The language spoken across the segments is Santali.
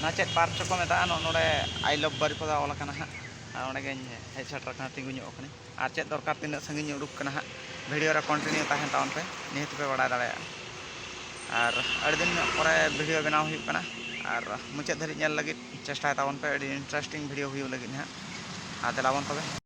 ᱱᱚᱣᱟ ᱪᱮᱫ ᱯᱟᱨᱠ ᱪᱚᱠᱚ ᱢᱮᱛᱟᱜᱼᱟ ᱱᱚᱜᱼᱚ ᱱᱚᱰᱮ ᱟᱭ ᱞᱚᱵᱷ ᱵᱟᱹᱨᱤᱯᱟᱫᱟ ᱚᱞ ᱟᱠᱟᱱᱟ ᱦᱟᱸᱜ ᱟᱨ ᱚᱸᱰᱮ ᱜᱮᱧ ᱦᱮᱡ ᱥᱮᱴᱮᱨ ᱟᱠᱟᱱᱟ ᱛᱤᱸᱜᱩ ᱧᱚᱜ ᱟᱠᱟᱱᱟᱹᱧ ᱟᱨ ᱪᱮᱫ ᱫᱚᱨᱠᱟᱨ ᱛᱤᱱᱟᱹᱜ ᱥᱟᱺᱜᱤᱧ ᱩᱰᱩᱠ ᱟᱠᱟᱱᱟ ᱦᱟᱸᱜ ᱵᱷᱤᱰᱤᱭᱳ ᱨᱮ ᱠᱚᱱᱴᱤᱱᱤᱭᱩ ᱛᱟᱦᱮᱱ ᱛᱟᱵᱚᱱ ᱯᱮ ᱱᱤᱦᱟᱹᱛ ᱯᱮ ᱵᱟᱲᱟᱭ ᱫᱟᱲᱮᱭᱟᱜᱼᱟ ᱟᱨ ᱟᱹᱰᱤ ᱫᱤᱱ ᱧᱚᱜ ᱯᱚᱨᱮ ᱵᱷᱤᱰᱤᱭᱳ ᱵᱮᱱᱟᱣ ᱦᱩᱭᱩᱜ ᱠᱟᱱᱟ ᱟᱨ ᱢᱩᱪᱟᱹᱫ ᱫᱷᱟᱹᱨᱤᱡ ᱧᱮᱞ ᱞᱟᱹᱜᱤᱫ ᱪᱮᱥᱴᱟᱭ ᱛᱟᱵᱚᱱ ᱯᱮ ᱟᱹᱰᱤ ᱤᱱᱴᱟᱨᱮᱥᱴᱤᱝ ᱵᱷᱤᱰᱤᱭᱳ ᱦᱩᱭᱩᱜ ᱞᱟᱹᱜᱤᱫ ᱦᱟᱸᱜ ᱟᱨ ᱫᱮᱞᱟ ᱵᱚᱱ ᱛᱚᱵᱮ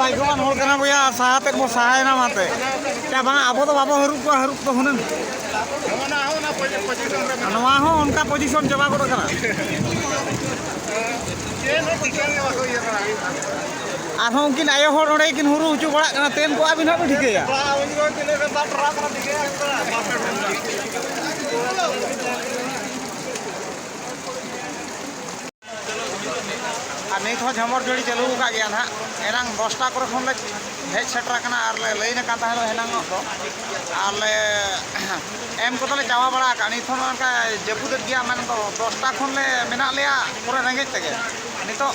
ᱵᱟᱭᱜᱚᱣᱟᱱ ᱦᱚᱲ ᱠᱟᱱᱟ ᱵᱚᱭᱟ ᱥᱟᱦᱟ ᱛᱮᱫ ᱵᱚ ᱥᱟᱦᱟᱭᱮᱱᱟ ᱚᱱᱟᱛᱮ ᱪᱟ ᱵᱟᱝ ᱟᱵᱚ ᱫᱚ ᱵᱟᱵᱚ ᱦᱟᱹᱨᱩᱵ ᱠᱚᱣᱟ ᱦᱟᱹᱨᱩᱵ ᱫᱚ ᱦᱩᱱᱟᱹᱝ ᱱᱚᱣᱟ ᱦᱚᱸ ᱚᱱᱠᱟ ᱯᱚᱡᱤᱥᱚᱱ ᱪᱟᱵᱟ ᱜᱚᱫ ᱠᱟᱱᱟ ᱟᱨᱦᱚᱸ ᱩᱱᱠᱤᱱ ᱟᱭᱳ ᱦᱚᱲ ᱚᱸᱰᱮ ᱠᱤᱱ ᱦᱩᱨᱩ ᱦᱚᱪᱚ ᱵᱟᱲᱟᱜ ᱠᱟᱱᱟ ᱛᱮᱱ ᱠᱚ ᱟᱹᱵᱤᱱ ᱦᱟᱸᱜ ᱵᱤᱱ ᱴᱷᱤᱠᱟᱹᱭᱟ ᱟᱨ ᱱᱤᱛ ᱦᱚᱸ ᱡᱷᱟᱢᱚᱨ ᱡᱟᱹᱲᱤ ᱪᱟᱹᱞᱩ ᱟᱠᱟᱫ ᱜᱮᱭᱟ ᱱᱟᱦᱟᱜ ᱮᱱᱟᱝ ᱫᱚᱥᱴᱟ ᱠᱚᱨᱮ ᱠᱷᱚᱱ ᱞᱮ ᱦᱮᱡ ᱥᱮᱴᱮᱨ ᱟᱠᱟᱱᱟ ᱟᱨ ᱞᱮ ᱞᱟᱹᱭ ᱟᱠᱟᱱ ᱛᱟᱦᱮᱸ ᱫᱚ ᱮᱱᱟᱝ ᱫᱚ ᱟᱨ ᱞᱮ ᱮᱢ ᱠᱚᱫᱚ ᱞᱮ ᱪᱟᱵᱟ ᱵᱟᱲᱟ ᱟᱠᱟᱫ ᱱᱤᱛ ᱦᱚᱸ ᱚᱱᱠᱟ ᱡᱟᱹᱯᱩᱫᱮᱫ ᱜᱮᱭᱟ ᱢᱮᱱ ᱫᱚ ᱫᱚᱥᱴᱟ ᱠᱷᱚᱱ ᱞᱮ ᱢᱮᱱᱟᱜ ᱞᱮᱭᱟ ᱯᱩᱨᱟᱹ ᱨᱮᱸᱜᱮᱡ ᱛᱮᱜᱮ ᱱᱤᱛᱚᱜ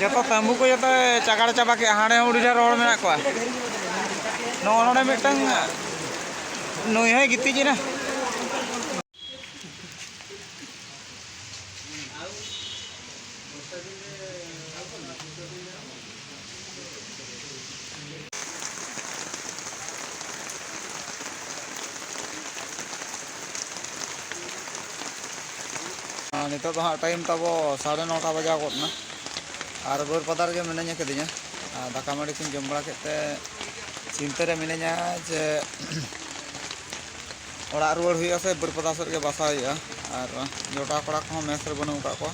ᱡᱚᱛᱚ ᱛᱟᱹᱢᱵᱩ ᱠᱚ ᱡᱚᱛᱚ ᱪᱟᱜᱟᱲ ᱪᱟᱵᱟ ᱠᱮᱫᱼᱟ ᱦᱟᱸᱰᱮ ᱦᱚᱸ ᱟᱹᱰᱤ ᱰᱷᱮᱨ ᱦᱚᱲ ᱢᱮᱱᱟᱜ ᱠᱚᱣᱟ ᱱᱚᱜᱼᱚ ᱱᱚᱰᱮ ᱢᱤᱫᱴᱟᱝ ᱱᱩᱭ ᱦᱚᱸᱭ ᱜᱤᱛᱤᱡ ᱮᱱᱟ ᱱᱤᱛᱚᱜ ᱫᱚ ᱦᱟᱸᱜ ᱴᱟᱭᱤᱢ ᱛᱟᱵᱚ ᱥᱟᱲᱮ ᱱᱚᱴᱟ ᱵᱟᱡᱟᱣ ᱜᱚᱫ ᱮᱱᱟ ᱟᱨ ᱵᱟᱹᱨ ᱯᱟᱛᱟ ᱨᱮᱜᱮ ᱢᱤᱱᱟᱹᱧ ᱟᱠᱟᱫᱤᱧᱟ ᱫᱟᱠᱟ ᱢᱟᱹᱰᱤ ᱠᱚᱧ ᱡᱚᱢ ᱵᱟᱲᱟ ᱠᱮᱫ ᱛᱮ ᱪᱤᱱᱛᱟᱹ ᱨᱮ ᱢᱤᱱᱟᱹᱧᱟ ᱡᱮ ᱚᱲᱟᱜ ᱨᱩᱣᱟᱹᱲ ᱦᱩᱭᱩᱜᱼᱟ ᱥᱮ ᱵᱟᱹᱨ ᱯᱟᱛᱟ ᱥᱮᱫ ᱜᱮ ᱵᱟᱥᱟ ᱦᱩᱭᱩᱜᱼᱟ ᱟᱨ ᱡᱚᱴᱟᱣ ᱠᱚᱲᱟ ᱠᱚᱦᱚᱸ ᱢᱮᱥ ᱨᱮ ᱵᱟᱹᱱᱩᱜ ᱟᱠᱟᱫ ᱠᱚᱣᱟ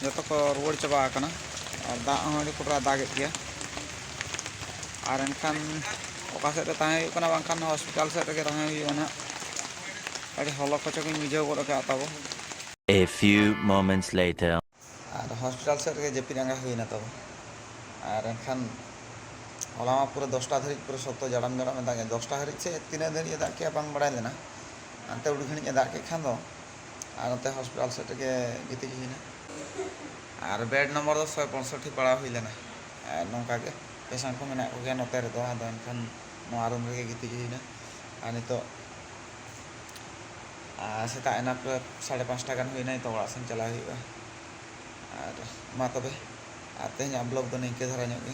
ᱡᱚᱛᱚ ᱠᱚ ᱨᱩᱣᱟᱹᱲ ᱪᱟᱵᱟ ᱟᱠᱟᱱᱟ ᱟᱨ ᱫᱟᱜ ᱦᱚᱸ ᱟᱹᱰᱤ ᱠᱚᱴᱨᱟ ᱫᱟᱜᱮᱫ ᱜᱮᱭᱟ ᱟᱨ ᱮᱱᱠᱷᱟᱱ ᱚᱠᱟ ᱥᱮᱫ ᱨᱮ ᱛᱟᱦᱮᱸ ᱦᱩᱭᱩᱜ ᱠᱟᱱᱟ ᱵᱟᱝᱠᱷᱟᱱ ᱦᱚᱥᱯᱤᱴᱟᱞ ᱥᱮᱫ ᱨᱮᱜᱮ ᱛᱟᱦᱮᱸ ᱦᱩᱭᱩᱜᱼᱟ ᱱᱟᱦᱟᱜ ᱟᱹᱰᱤ ᱦᱚᱞᱚ ᱠᱷᱚᱪᱚ ᱜᱤᱧ ᱵᱩᱡᱷᱟᱹᱣ ᱜᱚᱫ ᱟᱠᱟᱫ ᱛᱟᱵᱚ A few moments later ᱟᱨ ᱦᱚᱥᱯᱤᱴᱟᱞ ᱥᱮᱫ ᱨᱮᱜᱮ ᱡᱟᱹᱯᱤᱫ ᱟᱸᱜᱟ ᱦᱩᱭᱮᱱᱟ ᱛᱟᱵᱚ ᱟᱨ ᱮᱱᱠᱷᱟᱱ ᱦᱚᱞᱟ ᱢᱟ ᱯᱩᱨᱟᱹ ᱫᱚᱥᱴᱟ ᱫᱷᱟᱹᱨᱤᱡ ᱯᱩᱨᱟᱹ ᱥᱚᱠᱛᱚ ᱡᱟᱲᱟᱢ ᱡᱟᱲᱟᱢ ᱮ ᱫᱟᱜᱮᱫ ᱫᱚᱥᱴᱟ ᱫᱷᱟᱹᱨᱤᱡ ᱥᱮ ᱛᱤᱱᱟᱹᱜ ᱫᱷᱟᱹᱨᱤᱡ ᱮ ᱫᱟᱜ ᱠᱮᱫᱼᱟ ᱵᱟᱝ ᱵᱟᱲᱟᱭ ᱞᱮᱱᱟ ᱦᱟᱱᱛᱮ ᱩᱰᱤ ᱜᱷᱟᱹᱲᱤᱡ ᱮ ᱫᱟᱜ ᱠᱮᱫ ᱠᱷᱟᱱ ᱫᱚ ᱟᱨ ᱱᱚᱛᱮ ᱦᱚᱥᱯᱤᱴᱟᱞ ᱥᱮᱫ ᱨᱮᱜᱮ ᱜᱤᱛᱤᱡ ᱦᱩᱭ ᱮᱱᱟ ᱟᱨ ᱵᱮᱰ ᱱᱚᱢᱵᱚᱨ ᱫᱚ ᱥᱚᱭ ᱯᱚᱸᱭᱥᱚᱴᱴᱤ ᱯᱟᱲᱟᱣ ᱦᱩᱭ ᱞᱮᱱᱟ ᱟᱨ ᱱᱚᱝᱠᱟ ᱜᱮ ᱯᱮᱥᱮᱱᱴ ᱠᱚ ᱢᱮᱱᱟᱜ ᱠᱚᱜᱮᱭᱟ ᱱᱚᱛᱮ ᱨᱮᱫᱚ ᱟᱫᱚ ᱮᱱᱠᱷᱟᱱ ᱱᱚᱣᱟ ᱨᱩᱢ ᱨᱮᱜᱮ ᱜᱤᱛᱤᱡ ᱦᱩᱭ ᱮᱱᱟ ᱟᱨ ᱱᱤᱛᱚᱜ ᱥᱮᱛᱟᱜ ᱮᱱᱟ ᱯᱨᱟᱭ ᱥᱟᱲᱮ ᱯᱟᱸᱪᱴᱟ ᱜᱟᱱ ᱦᱩᱭ ᱮᱱᱟ ᱱᱤᱛᱚᱜ ᱚᱲᱟᱜ ᱥᱮᱱ ᱪᱟᱞᱟᱜ ᱦᱩᱭᱩᱜᱼᱟ ᱟᱨ ᱢᱟ ᱛᱚᱵᱮ ᱟᱨ ᱛᱮᱦᱮᱧᱟᱜ ᱵᱞᱚᱜᱽ ᱫᱚ ᱱᱤᱝᱠᱟᱹ ᱫᱷᱟᱨᱟ ᱧᱚᱜ ᱜᱮ